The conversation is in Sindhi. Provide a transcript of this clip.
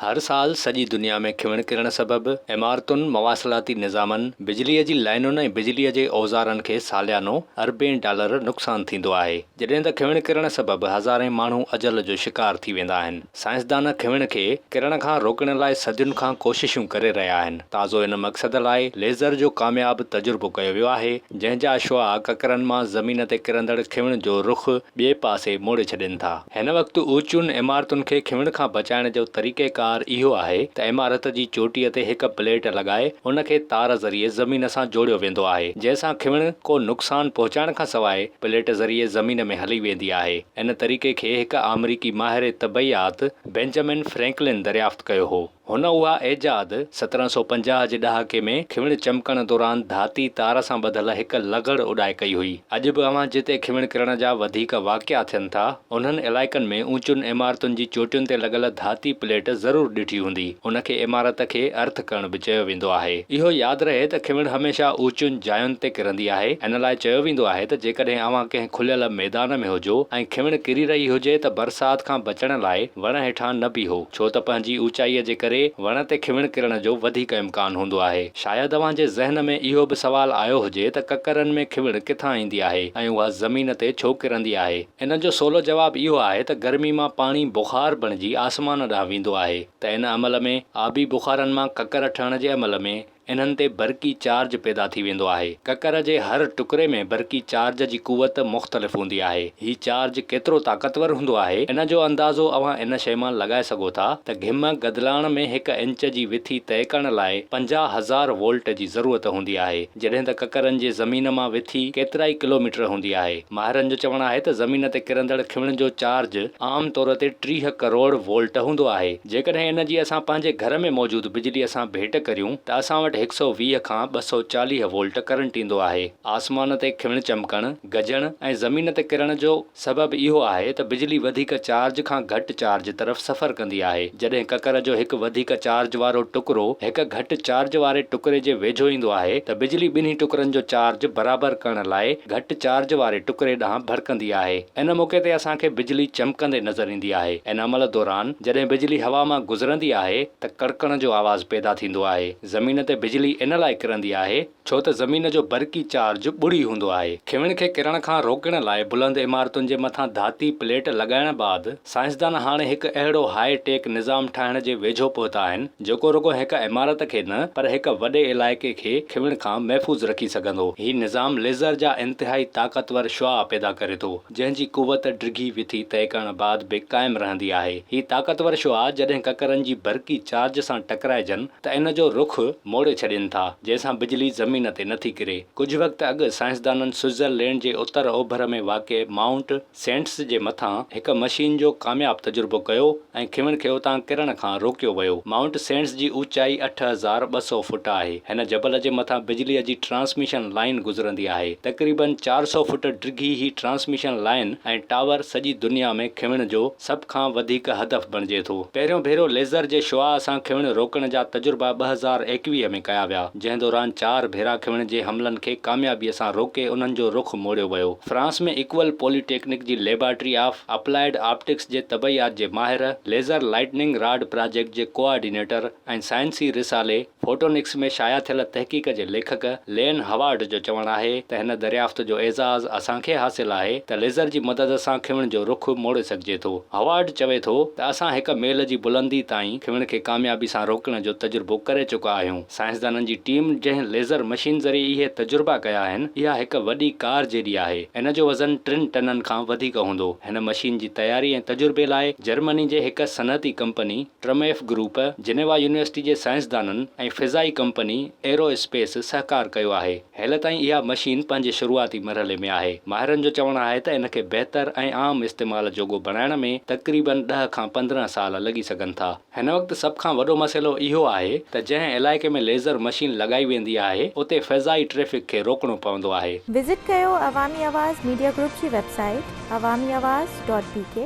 هر سال سڄي دنيا ۾ کيون ڪرڻ سبب عمارتن، مواصلاتي نظامن، بجليء جي لائنن ۽ بجليء جي اوزارن کي ساليانو اربين ڊالر نقصان ٿيندو آهي، جڏهن ته کيون ڪرڻ سبب هزارين ماڻهو اجل جو شڪار ٿي ويندا آهن. سائنسدان کيون کي ڪرڻ کان روڪڻ لاء صدين کان ڪوششون ڪري رهيا آهن. تازو ان مقصد لاء ليزر جو ڪامياب تجربو ڪيو ويو آهي، جنهن جا شعاع ڪڪرن مان زمين تي ڪرندڙ کيون جو رخ ٻئي پاسي موڙي ڇڏين ٿا. هن وقت اوچيون عمارتن کي کنوڻ کان بچائڻ جو طريقيڪار اهو آهي ته عمارت جي چوٽيء تي هڪ پليٽ لڳائي ان کي تار ذريعي زمين سان جوڙيو ويندو آهي جنهن سان کنوڻ ڪو نقصان پهچائڻ کان سواء پليٽ ذريعي زمين ۾ هلي ويندي آهي. ان طريقي کي هڪ آمريڪي ماهر طبعيات بينجمن فرينڪلن دريافت ڪيو هو. هن اها ايجاد سترهن سؤ پنجاهه جي ڏهاڪي ۾ کيوڻ چمڪڻ دوران ڌاتي تار سان ٻڌل هڪ لغڙ اڏائي ڪئي هئي. اڄ به اوهان جتي کيوڻ ڪرڻ جا وڌيڪ واقعا ٿين ٿا، انهن علائقن ۾ اوچين عمارتن جي چوٽين تي لڳل ڌاتي پليٽ ضرور ڏٺي هوندي. ان کي عمارت کي ارٿ ڪرڻ به چيو ويندو آهي. اهو ياد رهي ته کيوڻ هميشه اوچين جاين تي ڪرندي آهي. ان لاء چيو ويندو آهي ته جيڪڏهن اوهان ڪنهن کليل ميدان ۾ هجو ۽ کيوڻ ڪري رهي هجي ته برسات کان بچڻ لاء وڻ هيٺان نه بيهو. ڇو ته پنهنجي اوچائيء جي ڪري وڻ تي کهوڻ ڪرڻ جو وڌيڪ امڪان هوندو آهي. شايد اوهان جي ذهن ۾ اهو به سوال آيو هجي ته ڪڪرن ۾ کهوڻ ڪٿان ايندي آهي ۽ اها زمين تي ڇو ڪرندي آهي؟ ان جو سولو جواب اهو آهي ته گرمي مان پاڻي بخار بڻجي آسمان ڏانهن ويندو آهي ته ان عمل ۾ آبي بخارن مان ڪڪر ٺهڻ جي عمل ۾، انهن تي برقي چارج پيدا ٿي ويندو آهي. ڪڪر جي هر ٽڪري ۾ برقي چارج جي قوت مختلف هوندي آهي. هي چارج ڪيترو طاقتور هوندو آهي، ان جو اندازو اوهان ان شيء مان لڳائي سگهو ٿا ته گهمه گدلاڻ ۾ هڪ انچ جي وٿي طئي ڪرڻ لاء پنجاهه هزار وولٽ جي ضرورت هوندي آهي، جڏهن ته ڪڪرن جي زمين مان وٿي ڪيترائي ڪلوميٽر هوندي آهي. ماهرن جو چوڻ آهي ته زمين تي ڪرندڙ کيڻ جو چارج عام طور تي ٽيهه ڪروڙ وولٽ هوندو آهي، جيڪڏهن ان جي اسان پنهنجي گهر ۾ موجود بجلي سان ڀيٽ ڪريون ته اسان وٽ هڪ سؤ ويهه کان ٻه سؤ چاليهه وولٽ ڪرنٽ ايندو آهي. آسمان تي کيڻ چمڪڻ، گجڻ ۽ زمين تي ڪرڻ جو سبب اهو آهي ته بجلي وڌيڪ چارج کان گهٽ چارج طرف سفر ڪندي آهي، جڏهن ڪڪر جو هڪ وڌيڪ چارج وارو ٽڪرو هڪ گهٽ چارج واري ٽڪري جي ويجهو ايندو آهي ته بجلي ٻنهي ٽڪرن جو چارج برابر ڪرڻ لاء گهٽ چارج واري ٽڪري ڏانهن ڀڙڪندي آهي. ان موقعي تي اسان کي بجلي چمڪندي نظر ايندي آهي. ان عمل دوران جڏهن بجلي هوا مان گذرندي آهي ته ڪڙڪڻ جو آواز پيدا ٿيندو آهي. زمين تي بجلي ان لاء ڪرندي آهي، ڇو ته زمين جو برقي چارج ٻڙي هوندو آهي. کيون کي ڪرڻ کان روڪڻ لاء بلند عمارتن جي مٿان ڌاتي پليٽ لڳائڻ بعد سائنسدان هاڻي هڪ اهڙو هاء ٽيڪ نظام ٺاهڻ جي ويجهو پهتا آهن جيڪو رڳو هڪ عمارت کي نه پر هڪ وڏي علائقي کي کيون کان محفوظ رکي سگهندو. هي نظام ليزر جا انتهائي طاقتور شعاع پيدا ڪري ٿو. جنهن جي قوت ڊگهي وٿي طئي ڪرڻ بعد به قائم رهندي آهي. هي طاقتور شعاع جڏهن ڪڪرن جي برقي چارج سان ٽڪرائجن ته ان جو رخ موڙي ڇڏين ٿا، جنهن سان بجلي زمين تي نٿي ڪري. ڪجهه وقت اڳ سائنسدانن سوئٽزر لينڊ جي اتر اوڀر ۾ واقع مائونٽ سينٽس جي مٿان هڪ مشين جو ڪامياب تجربو ڪيو، ۽ کيون کي اتان ڪرڻ کان روڪيو ويو. مائونٽ سينٽس جي اوچائي اٺ هزار ٻه سؤ فوٽ آهي. هن جبل جي مٿان بجليء جي ٽرانسميشن لائين گذرندي آهي. تقريباً چار سؤ فوٽ ڊگهي هي ٽرانسميشن لائين ۽ ٽاور سڄي دنيا ۾ کيون جو سڀ کان وڌيڪ هدف بڻجي ٿو. پهريون ڀيرو ليزر جي شعاع سان کيون روڪڻ جا تجربا ٻه هزار ايڪويهه ۾ ڪيا ويا، جنهن دوران چار ڀيرا کيون جي حملن کي ڪاميابيء سان روڪي انهن جو رخ موڙيو ويو. فرانس ۾ اڪول پولي ٽيڪنڪ جي ليبارٽري آف اپلائيڊ آپٽڪس جي طبعيات جي ماهر، ليزر لائٽننگ راڊ پراجيڪٽ جي ڪوآرڊينيٽر ۽ سائنسي رسالي فوٽونڪس ۾ شايع ٿيل تحقيق جي ليکڪ لين هاوارڊ جو چوڻ آهي ته هن دريافت جو اعزاز اسان کي حاصل آهي ته ليزر جي مدد سان کيون جو رخ موڙي سگهجي ٿو. هاوارڊ چوي ٿو ته اسان هڪ ميل جي بلندي تائين کيون کي ڪاميابي سان روڪڻ جو تجربو ڪري چڪا آهيون. سائنسدانن جي ٽيم جنهن ليزر مشين ذريعي اهي تجربا ڪيا آهن، اها هڪ وڏي ڪار جيڏي آهي. ان جو وزن ٽن ٽنن کان وڌيڪ هوندو. هن مشين جي تياري ۽ تجربي لاء جرمني جي هڪ صنعتي company Trumpf group, Geneva university جي سائنسدانن ۽ فضائي ڪمپني ايرو اسپيس سهڪار ڪيو آهي. هيل تائين اها مشين پنهنجي شروعاتي مرحلي ۾ آهي. ماهرن جو چوڻ آهي ته ان کي بهتر ۽ عام استعمال جوڳو بڻائڻ ۾ تقريبن ڏهه کان پندرهن سال لڳي سگهن ٿا. هن وقت سڀ کان وڏو مسئلو اهو آهي ته جنهن علائقي ۾ ليزر مشين لڳائي ويندي آهي اتي فضائي ٽريفڪ کي روڪڻو پوندو آهي. وزٽ ڪيو عوامي آواز ميڊيا گروپ جي website Awami Awaz dot بي ڪي.